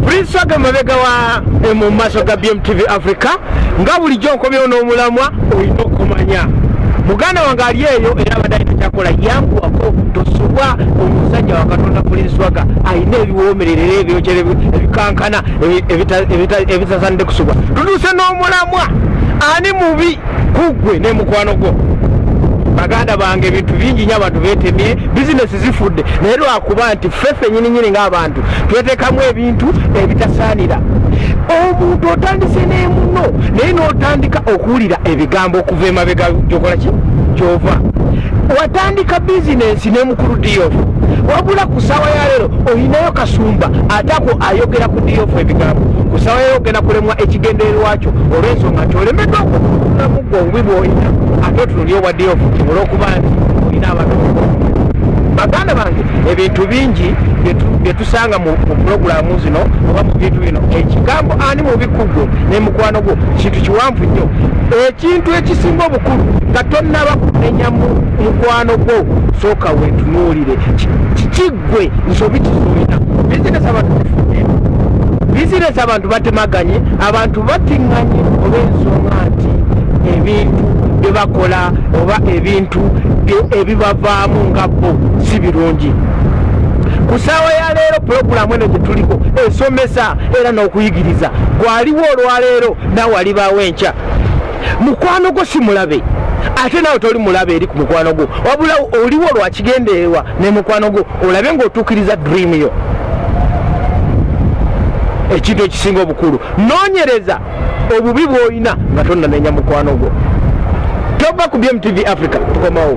Prinsaga mabega wa eh, mu maso ga BMTV Africa nga bulijjo nkomyewo n'omulamwa olina okumanya muganda wange ali eyo era abadde alina kyakola yanguwako tosubwa omusajja wa katonda pulinswaga alina ebiwoomererera ebyokyera ebikankana ebitasanidde kusubwa tutuuse n'omulamwa ani mubi kuggwe ne mukwano gwo baganda bange ebintu bingi nyo abantu betemye bizinesi zifudde naye lwakuba nti ffe fenyini nyini ng'abantu twetekamu ebintu ebitasaanira omuntu otandise n'emuno naye n'otandika okuwulira ebigambo okuva emabega gyokola ki gyova watandika bizinensi ne mukulu diyofu wabula ku saawa ya leero olinayo kasumba atako ayogera ku diyofu ebigambo ku saawa yaleero ogenda kulemwa ekigendererwakyo olw'ensonga nti olemeddwa okuulamu gwe obubi bwolina ate otunulya obwa diyofu olwokuba nti baganda bange ebintu bingi byetusanga mu pulogulamu zino oba mu bintu bino ekigambo ani mubikugwo nemukwano gwo kintu kiwanvu nnyo ekintu ekisinga obukulu nga tonnaba kumenya mukwano gwo sooka wetunuulire kikiggwe nsobi kizoina bizinesi abantu bizinesi abantu batemaganye abantu batinganye olw'ensonga nti ebintu byebakola oba ebintu ebibavaamu nga bo si birungi ku saawa ya leero pulogulaamu eno gyetuliko esomesa era n'okuyigiriza gwaliwo olwaleero naawe alibaawo enkya mukwano gwo si mulabe ate naawe toli mulabe eri ku mukwano gwo wabula oliwo lwakigendererwa ne mukwano gwo olabe ng'otuukiriza dream yo ekintu ekisinga obukulu nonyereza obubi bwolina nga tonnanenya mukwano gwo tova ku bmtv africa tukomawo